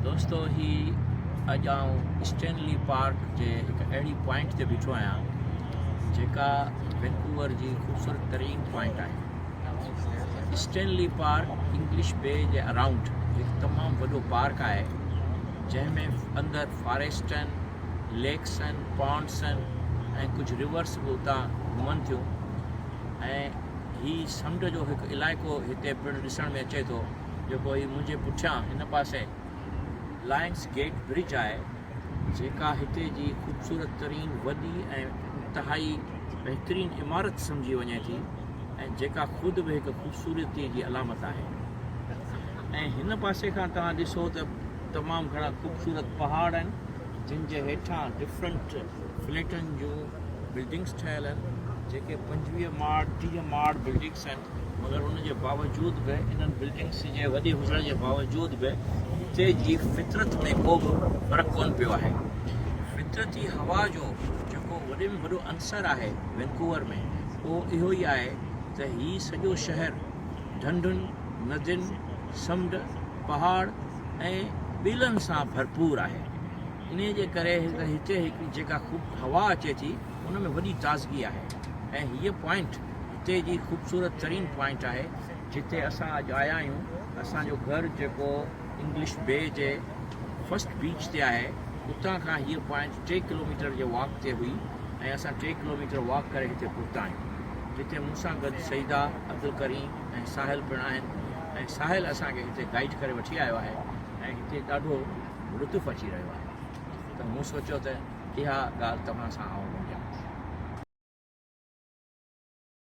دوستو هي اڄ آئون اسٽينلي پارڪ جي هڪ اهڙي پوائنٽ تي بيٺو آهيان جيڪا وينڪوور جي خوبصورت ترين پوائنٽ آهي اسٽينلي پارڪ انگلش بي جي اراؤنڊ هڪ تمام وڏو پارڪ آهي جنهن ۾ اندر فاريسٽن ليڪسن پونسن ۽ ڪجهه ريورس به اتان گهمن ٿيون ۽ هي سمنڊ جو هڪ علائقو هتي پڻ ڏسڻ ۾ اچي ٿو جيڪو هي منهنجي پٺيان هن پاسي لائنس گيٽ برج آهي جيڪا هتي جي خوبصورت ترين وڏي ۽ انتهائي بهترين عمارت سمجهي وڃي ٿي ۽ جيڪا خود به هڪ خوبصورتي جي علامت آهي ۽ هن پاسي کان توهان ڏسو ته تمام گهڻا خوبصورت پهاڙ آهن جن جي هيٺان ڊفرنٽ فليٽن جون بلڊنگس ٺهيل آهن جيڪي پنجويهه ماڙ ٽيهه ماڙ بلڊنگس آهن مگر ان جي باوجود به انهن بلڊنگس جي وڏي هجڻ جي باوجود به اتي جي فطرت ۾ ڪو به فرق ڪون پيو آهي فطرتي هوا جو جيڪو وڏي ۾ وڏو عنصر آهي وينڪوور ۾ اهو اهو ئي آهي ته هي سڄو شهر ڍنڍن ندين سمنڊ پهاڙ ۽ ٻيلن سان ڀرپور آهي انهي جي ڪري هتي جيڪا هوا اچي ٿي ان ۾ وڏي تازگي آهي ۽ هيء پوائنٽ اتي جي خوبصورت ترين پوائنٽ آهي جتي اسان اڄ آيا آهيون اسان جو گهر جيڪو انگلش بي جي فرسٽ بيچ تي آهي اتان کان هيء پوائنٽ ٽي ڪلوميٽر جي واڪ تي هئي ۽ اسان ٽي ڪلوميٽر واڪ ڪري هتي پهتا آهيون جتي مون سان گڏ سعيده عبدالڪريم ۽ ساحل پڻ آهن ۽ ساحل اسان کي هتي گائيڊ ڪري وٺي آيو آهي ۽ هتي ڏاڍو لطف اچي رهيو آهي ته مون سوچيو ته اها ڳالهه توهان سان آئون ونڊيان